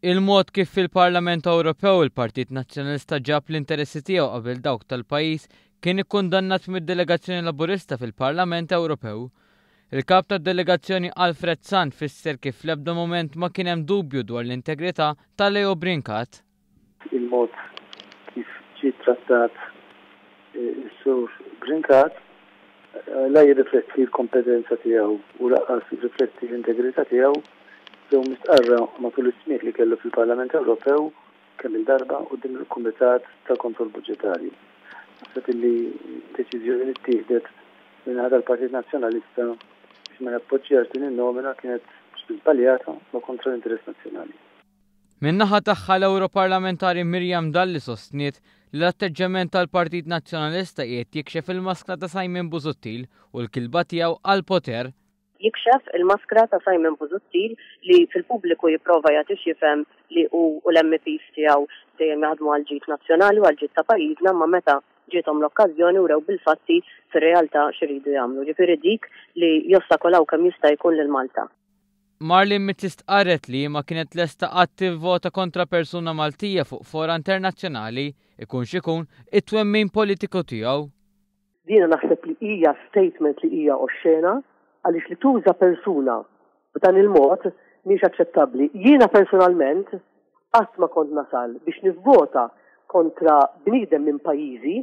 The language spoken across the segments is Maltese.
Il-mod kif fil-Parlament Ewropew il-Partit Nazzjonalista ġab l-interessi tiegħu qabel dawk tal-pajjiż kien ikkundannat mid-delegazzjoni Laburista fil-Parlament Ewropew. Il-Kap tad-Delegazzjoni Alfred Sant fisser kif fl-ebda mument ma kien hemm dubju dwar l-integrità ta' Leo Brincat. il-mod kif ġie ttrattat is-Sur Brincat la jirrifletti l-kompetenza tiegħu u lanqas jirrifletti l-integrità tiegħu ġew mistqarra matul is-smigħ li kellu fil-Parlament Ewropew kemm-il darba quddiem il-Kumitat tal-Kontroll Buġġetarju. Naħseb illi d-deċiżjoni li ttieħdet min-naħa tal-Partit Nazzjonalista biex ma jappoġġjax din in-nomina kienet żbaljata u kontra l-interess nazzjonali. Min-naħa tagħha l-Ewroparlamentari Miriam Dalli sostniet li l-atteġġjament tal-Partit Nazzjonalista qiegħed jikxef il-maskra ta' Simon Busuttil u l-kilba tiegħu għall-poter. Jikxef il-maskra ta' Simon Busuttil li fil-pubbliku jipprova jagħti x'jifhem li hu u l-MEPs tiegħu dejjem jaħdmu għall-ġid nazzjonali u għall-ġid ta' pajjiżna imma meta ġiethom l-okkażjoni wrew bil-fatti fir-realtà x'iridu jagħmlu, jiġifieri dik li jostakolaw kemm jista' jkun lil Malta. Marlene Mizzi stqarret li hi ma kienet lesta qatt tivvota kontra persuna Maltija fuq fora internazzjonali, ikun x'ikun it-twemmin politiku tiegħu. Jiena naħseb li hija statement li hija oxxena għaliex li tuża persuna b'dan il-mod mhijiex aċċettabbli. Jiena personalment qatt ma kont nasal biex nivvota kontra bniedem minn pajjiżi.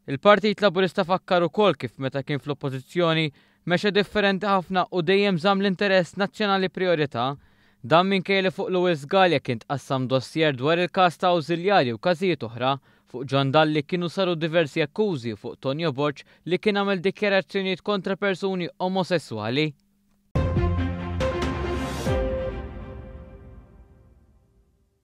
Il-Partit Laburista fakkar ukoll kif meta kien fl-Oppożizzjoni mexa differenti ħafna u dejjem żamm l-interess nazzjonali prijorità. Dan minkejja li fuq Louis Sgalja kien tqassam dossier dwar il-każ ta' awżiljarji u każijiet oħra. Fuq John Dalli kienu saru diversi akkużi u fuq Tonio Borg li kien għamel dikjarazzjonijiet kontra persuni omosesswali.